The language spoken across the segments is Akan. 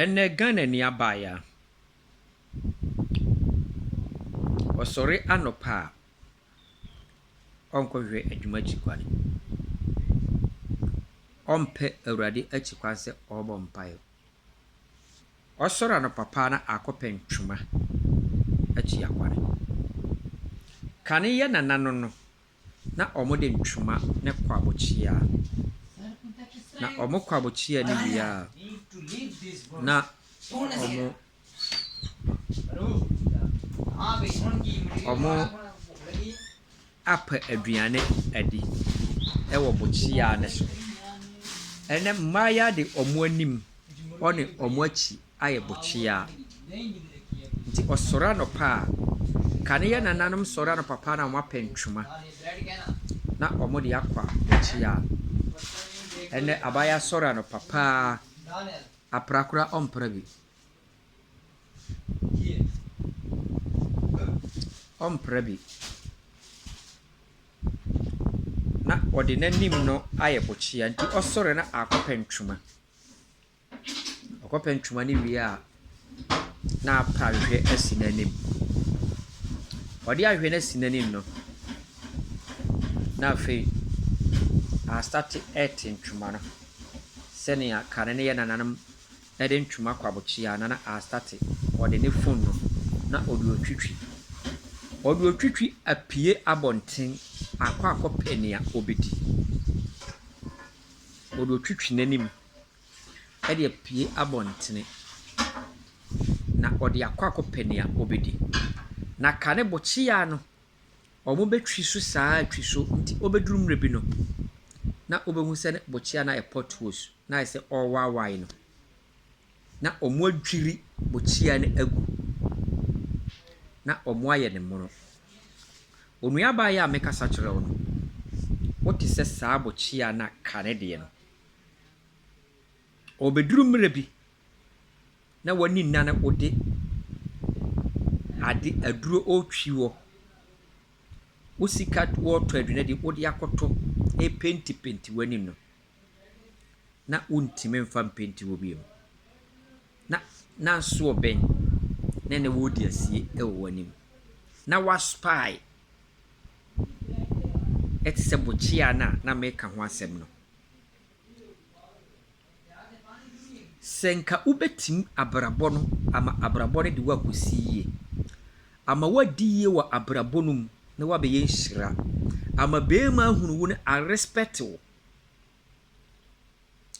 Ɛnɛ Ghanani abaayewa, ɔsɔre anɔpa a, ɔnkɔhwɛ adwuma akyi kwan. Ɔmpɛ Awurade akyi kwan sɛ ɔrebɔ mpaeɛ. Ɔsɔre anɔpa pa ara na akɔpɛ ntoma atua kwan. Kane yɛ nananom no. na wɔde ntwoma ne kwabokyea. Na wɔn kwabokyea no wie a, na wɔn wɔapɛ aduane adi wɔ bokyea no so. Ɛnnɛ, mmayewa de wɔn anim ne wɔn akyi ayɛ bɔkyeaa. Ntsi ɔsoɛr anɔpa a, kan yɛ nananom soɛr anɔpa paa na wɔapɛ ntwema na wɔdze akɔ abɔkyeaa. Ndɛ abaayaa soɛr anɔpa paa, apra koraa ɔmmpra bi. Ɔmmpra bi. Na ɔdze n'enyim no ayɛ bɔkyeaa, ntsi ɔsoɛr na aakɔpɛ ntwema. Ɔkɔpɛ ntoma no wie a, na apa ahwehwɛ asi n'anim. Ɔde ahwehwɛ no asi n'anim no, na afei wasate rete ntoma no sɛnea kane no yɛ nananom de ntoma kɔ abokyea no, na asate. Ɔde ne fon no, na ɔde retwitwi. Ɔde retwitwi apue abɔnten akɔ akɔpɛ nea ɔbɛdi. Ɔde retwitwi n'anim. de apue abɔntene, na ɔde akɔ akɔpɛ nea obedi. Na ka no bɔkyea no, wɔbɛtwi so saa ara twi so nti obeduru mmerɛ bi no na wobehu sɛ ne bɔkyea no ayɛ potholes na ayɛ sɛ ɔrewaawae no, na wɔadwiri bɔkyea no agu, na wɔayɛ no mono. Onuabaa yi a mekasa kyerɛ wo no, wote sɛ saa bɔkyea no a ka no deɛ no. Ɔbɛduru mmerɛ bi na w'ani nna no wode ade aduro ɔretwi hɔ. Wo sika woretɔ aduane deɛ wode akɔtɔ repentipenti w'anim no na wontumi mfa mpenti hɔ bio. Na na nsoɔ bɛn na ɛnnɛ woredi asie wɔ w'anim. Na w'aspaae te sɛ bokyea no a na meka ho asɛm no. Sɛ nka wobɛtumi abrabɔ no ama abrabɔ no de wo akɔsi yie, ama woadi yie wɔ abrabɔ no mu na woabɛyɛ nhyira, ama barima ahunu wo na arespɛte wo,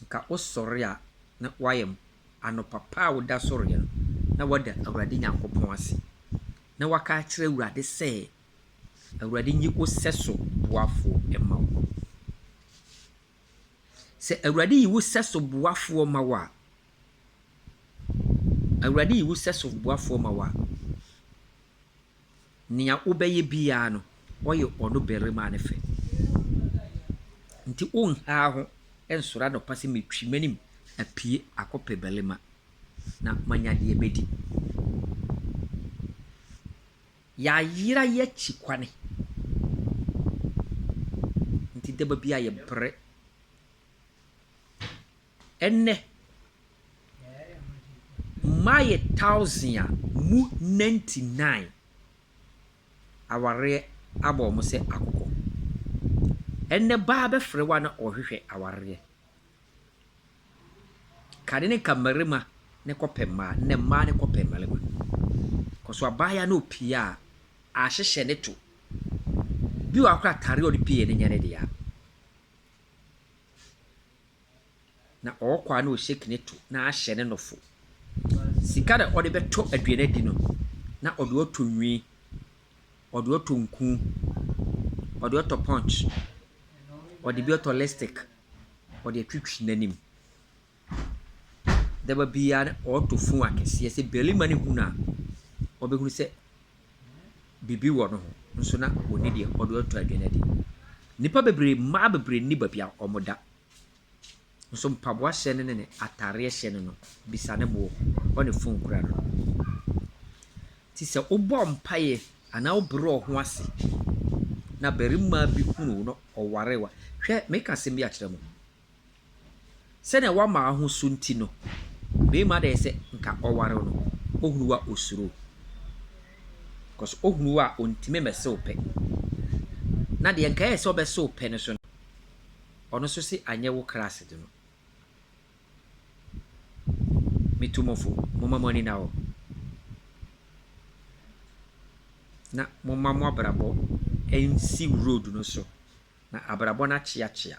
nka wosɔre a na woayɛ anɔpa pa a woda sɔreɛ no na woada Awurade Nyankopɔn ase na woaka akyerɛ Awurade sɛ, Awurade nyi wo sɛso boafoɔ ma wo. Sɛ Awurade yi wo sɛso boafoɔ ma wo a, Awurade yi wo sɛso boafoɔ ma wo a, nea wobɛyɛ biara no, ɔyɛ ɔno barima no fɛ. Nti wonha wo ho nsɔre anɔpa sɛ metwi m'anim apue akɔpɛ barima na manya deɛ mɛdi. Yɛayera yɛ akyi kwane. Nti daba bia yɛ brɛ. Ɛnɛ mmaa yɛ thousand a mu ninety nine awareɛ abɔ wɔn sɛ akokɔ. Ɛnɛ baa bɛfrɛ wo a na ɔrehwehwɛ awareɛ. Ka ne ne ka mmarima ne kɔpɛ mmaa ne mmaa ne kɔpɛ mmarima. Kɔso abaayewa no opie a ahyehyɛ ne to. Bi wɔ hɔ koraa atare a ɔde pie no nyɛ ne dea. Na ɔɔkɔ a na ɔshake ne to na ahyɛ ne nofo. Sika na ɔde bɛtɔ aduane adi no na ɔde ɔtɔ nwi ɔde ɔtɔ nku, ɔde ɔtɔ punch, ɔde bi ɔtɔ lipstick, ɔde atwitwi n'anim. Da ba biara na ɔtɔ fon akɛseɛ. Sɛ barima no hu no a, ɔbɛhunu sɛ biribi wɔ ne ho nso na ɔnni deɛ ɔde ɔtɔ aduane adi. Nnipa bebree, mmaa bebree nni baabi a wɔda. Nso mpaboa hyɛ no ne ne ataareɛ hyɛ no no bisa ne boɔ ɔ ne phone kura no no nti sɛ wo bɔ mpaeɛ anaa wo brɛ wo ho ase na barima bi hunu wo na ɔware wo a hwɛ me ka asɛm bi akyerɛ mo sɛdeɛ wo ama ho so nti no barima deɛ sɛ nka ɔware wo no ɔhunu wo a ɔsuro because ɔhunu wo a ɔntumi mɛse wo pɛ na deɛ nka yɛ sɛ ɔbɛse wo pɛ no so no Ɔno nso se anyɛ wo class de no me tu mofo momma mo ani na hɔ na momma mo abrabɔ nsi road no so na abrabɔ no akyeakyea.